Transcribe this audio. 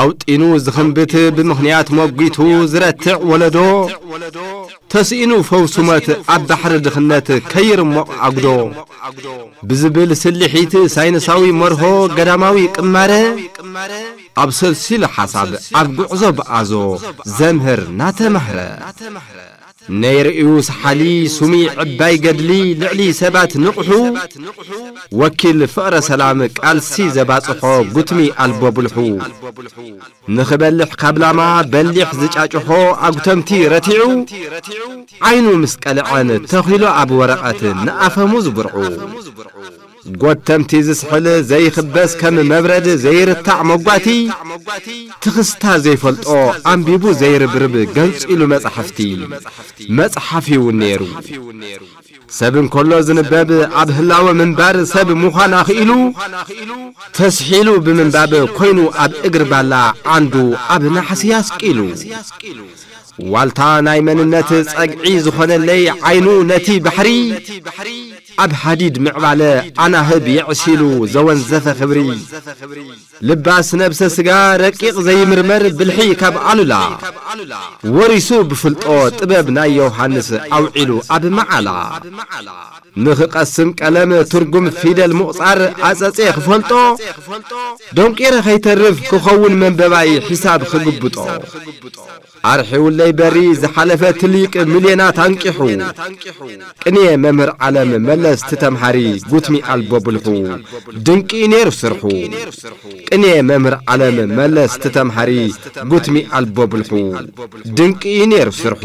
ኣውጢኑ ዝኽንብት ብምኽንያት መጒቱ ዝረትዕ ወለዶ ተስኢኑ ፈውሱ መት ኣብ ባሕሪ ድኽነት ከይርሞቕ ኣጉዶ ብዝብል ስልሒት ሳይንሳዊ መርሆ ገዳማዊ ቅማረ ኣብ ሰልሲሉ ሓሳብ ኣብ ጉዕዞ ብኣዞ ዘምህር ናተማህረ ነይር'ዩ ሰሓሊ ሱሚ ዕባይ ገድሊ ልዕሊ ሰባት ንቕሑ ወኪል ፍቕረ ሰላም ቃልሲ ዘባጽሖ ጉትሚ ኣልቦ ብልሑ ንኽበልሕ ካብ ላማ በሊሕ ዝጫጭሖ ኣጉተምቲ ረቲዑ ዓይኑ ምስ ቀልዐን ተኺሉ ኣብ ወረቐት ንኣፈሙዝ ብርዑ ጎተምቲ ዝስሕል ዘይኽበስ ከም መብረድ ዘይርታዕ ሞጓቲ ትኽስታ ዘይፈልጦ ኣንቢቡ ዘይርብርብ ገንጺሉ መጻሕፍቲ መጽሓፍ ዩ ኔሩ ሰብ እንከሎ ዝንበብ ኣብ ህላወ ምንባር ሰብ ምዃን ኣኽኢሉ ተስሒሉ ብምንባብ ኮይኑ ኣብ እግሪ ባላ ዓንዱ ኣብ ናሕሲ ኣስቂሉ ዋልታ ናይ መንነት ጸግዒ ዝኾነለይ ዓይኑ ነቲ ባሕሪ ኣብ ሃዲድ ምዕባለ ኣናህብ የዕሲሉ ዘወንዘፈ ክብሪ ልባስ ነብሰ ስጋ ረቂቕ ዘይምርመር ብልሒ ካብ ኣሉላ ወሪሱ ብፍልጦ ጥበብ ናይ ዮውሃንስ ኣውዒሉ ኣብ መዓላ ንኽቐስም ቀለም ትርጉም ፊደል ምቑጻር ኣጸጼ ክፈልጦ ደንቂረ ከይተርፍ ክኸውን መንበባይ ሒሳብ ክግብጦ ኣርሒውለይ በሪ ዝሓለፈ ትሊቅ ምልየናት ኣንቂሑ ቅንየ መምህር ዓለም መለስ ትተምሃሪ ጉትኒ ኣልቦ ብልሑ ድንቂ እዩ ነይሩ ስርሑ ቅንየ መምህር ዓለም መለስ ትተምሃሪ ጉትኒ ኣልቦ ብልሑ ድንቂ እዩ ነይሩ ስርሑ